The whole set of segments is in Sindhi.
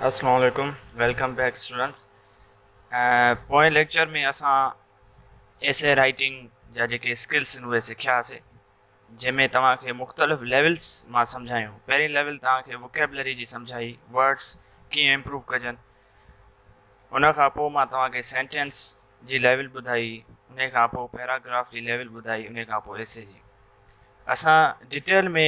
اسلام عليڪم ويلڪم بيڪ اسٽوڊنٽس پوئين ليڪچر ۾ اسان ايسي رائٽنگ جا جيڪي اسڪلس آهن اهي سکيا هاسي جنهن ۾ توهان کي مختلف ليولس مان سمجهايون پهرين ليول توهان کي وڪيبلري جي سمجهائي ورڊس ڪيئن امپروو ڪجن ان کان پوء مان توهان کي سينٽينس جي ليول ٻڌائي ان کان پوء پيراگراف جي ليول ٻڌائي ان کان پوء ايسي جي اسان ڊيٽيل ۾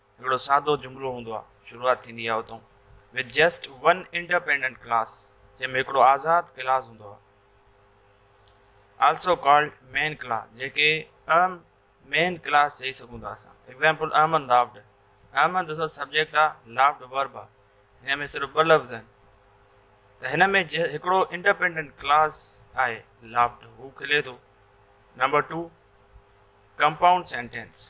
هڪڙو سادو جملو هوندو آهي، شروعات ٿيندي آهي اتئون With just one independent class جنهن ۾ هڪڙو آزاد ڪلاس هوندو آهي Also called main class جيڪي اهم مين ڪلاس چئي سگهون ٿا اسان ايگزامپل احمد لافڊ احمد اصل سبجيڪٽ آهي لافڊ ورب آهي هن ۾ صرف ٻه لفظ آهن ته هن ۾ هڪڙو انڊيپينڊنٽ ڪلاس آهي لافٽ هو کلي ٿو number two compound sentence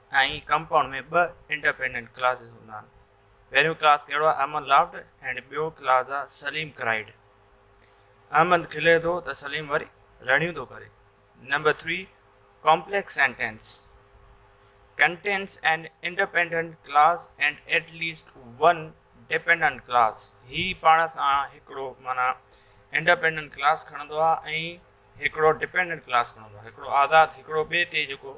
۽ compound ۾ ٻه انڊپينڊنٽ ڪلازز هوندا آهن. پهريون ڪلاز ڪهڙو آهي احمد لافڊ اينڊ ٻيو ڪلاز آهي سليم ڪرائيڊ. احمد کلي ٿو ته سليم وري رڙيون ٿو ڪري. Number three complex sentence contains an independent clause and at least one dependent clause هي پاڻ سان هڪڙو معنيٰ انڊپينڊنٽ ڪلاز کڻندو آهي ۽ هڪڙو ڊپينڊنٽ ڪلاز کڻندو آهي هڪڙو آزاد هڪڙو ٻئي تي جيڪو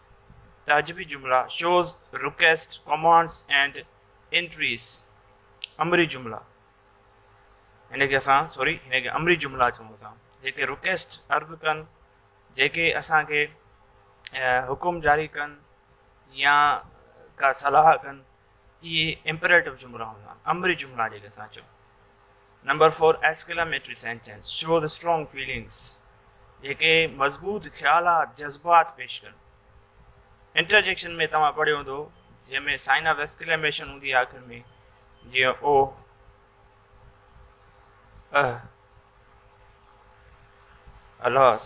تعجبي جملا، shows, request, commands and entreaties, امري جملا، هن کي اسان سوري هن کي امري جملا چئون ٿا، جيڪي رڪيسٽ، عرض ڪن، جيڪي اسان کي حڪم جاري ڪن يا ڪا صلاح ڪن، اهي امپريٽو جملا هوندا آهن، امري جملا جيڪي اسان چئون. Number four, exclamatory sentence show the strong feelings جيڪي مضبوط خيالات، جذبات پيش ڪن. انٽرجيڪشن ۾ توهان پڙهيو هوندو جنهن ۾ سائن آف ايڪسڪلاميشن هوندي آهي آخر ۾ جيئن اوه، اهه، الاس.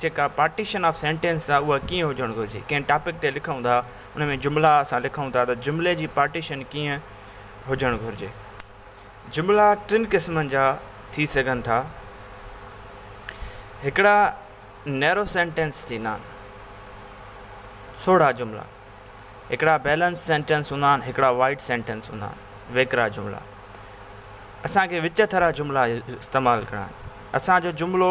جيڪا پارٽيشن آف سينٽينس آ اها ڪيئن هجڻ گهرجي. ڪنهن ٽاپڪ تي لکون ٿا ان ۾ جملا اسان لکون ٿا ته جملي جي پارٽيشن ڪيئن هجڻ گهرجي. جملا ٽن قسمن جا ٿي سگهن ٿا. هڪڙا نيرو سينٽينس ٿيندا آهن. سوڙها جملا. هڪڙا بيلنس سينٽينس هوندا آهن هڪڙا وائيڊ سينٽينس هوندا آهن. ويڪرا جملا. اسان کي وچ ٿرا جملا استعمال ڪرڻا آهن. اسان جو جملو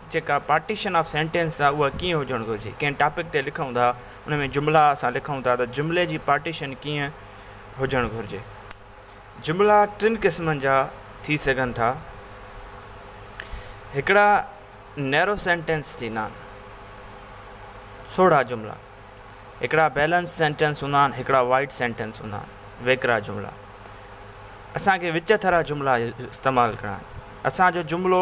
جيڪا پارٽيشن آف سينٽينس آ اها ڪيئن هجڻ گهرجي. ڪنهن ٽاپڪ تي لکون ٿا ان ۾ جملا اسان لکون ٿا ته جملي جي پارٽيشن ڪيئن هجڻ گهرجي. جملا ٽن قسمن جا ٿي سگهن ٿا. هڪڙا نيرو سينٽينس ٿيندا آهن. سوڙها جملا. هڪڙا بيلنس سينٽينس هوندا آهن هڪڙا وائيڊ سينٽينس هوندا آهن. ويڪرا جملا. اسان کي وچ ٿرا جملا استعمال ڪرڻا آهن. اسان جو جملو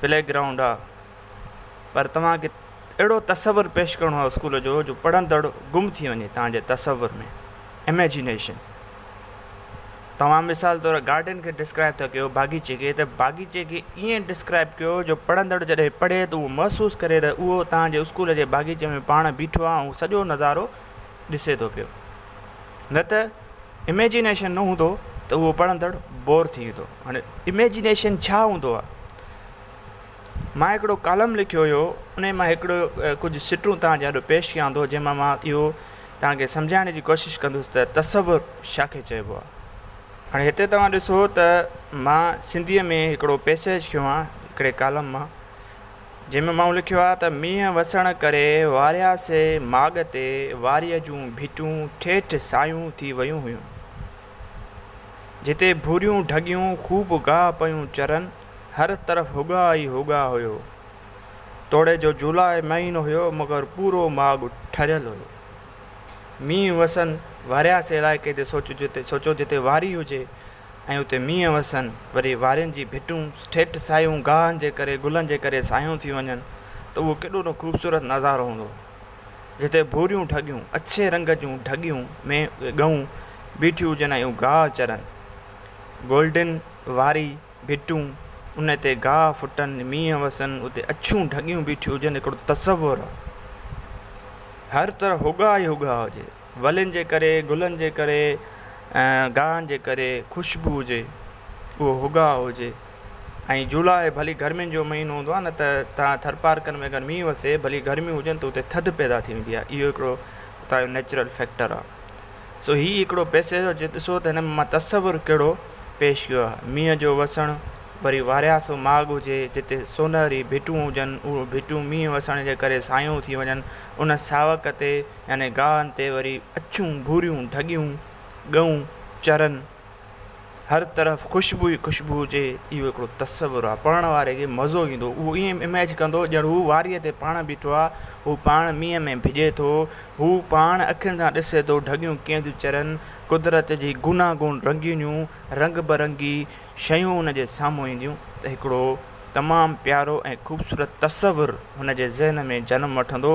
پلي گرائونڊ آ پر توهان کي اهڙو تصور پيش ڪرڻو آ اسڪول جو جو پڙهندڙ گم ٿي وڃي توهان جي تصور ۾ اميجنيشن توهان مثال طور گارڊن کي ڊسڪرائب ٿا ڪيو باغيچي کي ته باغيچي کي ائين ڊسڪرائب ڪيو جو پڙهندڙ جڏهن پڙهي ته اهو محسوس ڪري ته اهو توهان جي اسڪول جي باغيچي ۾ پاڻ بيٺو آ ۽ سڄو نظارو ڏسي ٿو پيو نه ته اميجنيشن نه هوندو ته اهو پڙهندڙ بور ٿي ويندو هاڻي اميجنيشن ڇا هوندو آهي مان هڪڙو ڪالم لکيو هيو ان مان هڪڙو ڪجهه سٽون تهان جي آڏو پيش ڪيان ٿو جنهن مان مان اهو تهان کي سمجهائڻ جي ڪوشش ڪندس ته تصور ڇا کي چئبو آهي هاڻي هتي توهان ڏسو ته مان سنڌيء ۾ هڪڙو پيسيج کيو آهي هڪڙي ڪالم مان جنهن ۾ مئو لکيو آهي ته مينهن وسڻ ڪري واريا سي ماڳ تي واريء جون ڀيٽون ٺيٺ سايون ٿي ويون هيون، جتي ڀوريون ڍڳيون خوب گاهه پيون چرن، هر طرف هوڳاء ئي هوڳاء هيو. توڙي جو جولاء مهينو هيو مگر پورو ماڳ ٺريل هيو. مينهن وسن واريا سي علائقي تي سوچو جتي واري هجي ۽ اتي مينهن وسن، وري وارين جي ڀٽون ٺيٺ سايون گاهن جي ڪري گلن جي ڪري سايون ٿي وڃن ته اهو ڪيڏو نه خوبصورت نظارو هوندو. جتي ڀوريون ڍڳيون، اڇي رنگ جون ڍڳيون ۾ اهي ڳئون بيٺيون هجن ۽ اهو گاهه چرن. گولڊن واري ڀٽون، ان تي گاهه ڦٽن، مينهن وسن، اتي اڇيون ڍڳيون بيٺيون هجن هڪڙو تصور هو. هر طرف هوڳا ئي هوڳا هجي. ولين جي ڪري، گلن جي ڪري ۽ گاهن جي ڪري خوشبو هجي اهو هوگا هجي ۽ جولاء ڀلي گرمين جو مهينو هوندو آهي نه ته تان ٿرپارڪر ۾ اگر مينهن وسي ڀلي گرميون هجن ته اتي ٿڌ پيدا ٿي ويندي آهي اهو هڪڙو اتان جو نيچرل فيڪٽر آهي سو هي هڪڙو پيسيج آهي جي ڏسو ته هن مان تصور ڪهڙو پيش ڪيو آهي مينهن جو وسڻ وري وارياسو ماڳ هجي جتي سونهري ڀٽون هجن اهو ڀٽون مينهن وسڻ جي ڪري سايون ٿي وڃن ان ساوڪ تي يعني گاهن تي وري اڇون ڀوريون ڍڳيون ڳئون چرن هر طرف خوشبو ئي خوشبو هجي اهو هڪڙو تصور آ پڙهڻ واري کي مزو ايندو اهو ائين اميج ڪندو ڄڻ هو واريء تي پاڻ بيٺو آ هو پاڻ مينهن ۾ ڀڄي ٿو هو پاڻ اکين سان ڏسي ٿو ڍڳيون ڪيئن ٿيون چرن قدرت جي گوناگون رنگينيون رنگ برنگي شيون ان جي سامهون اينديون ته هڪڙو تمام پيارو ۽ خوبصورت تصور هن جي ذهن ۾ جنم وٺندو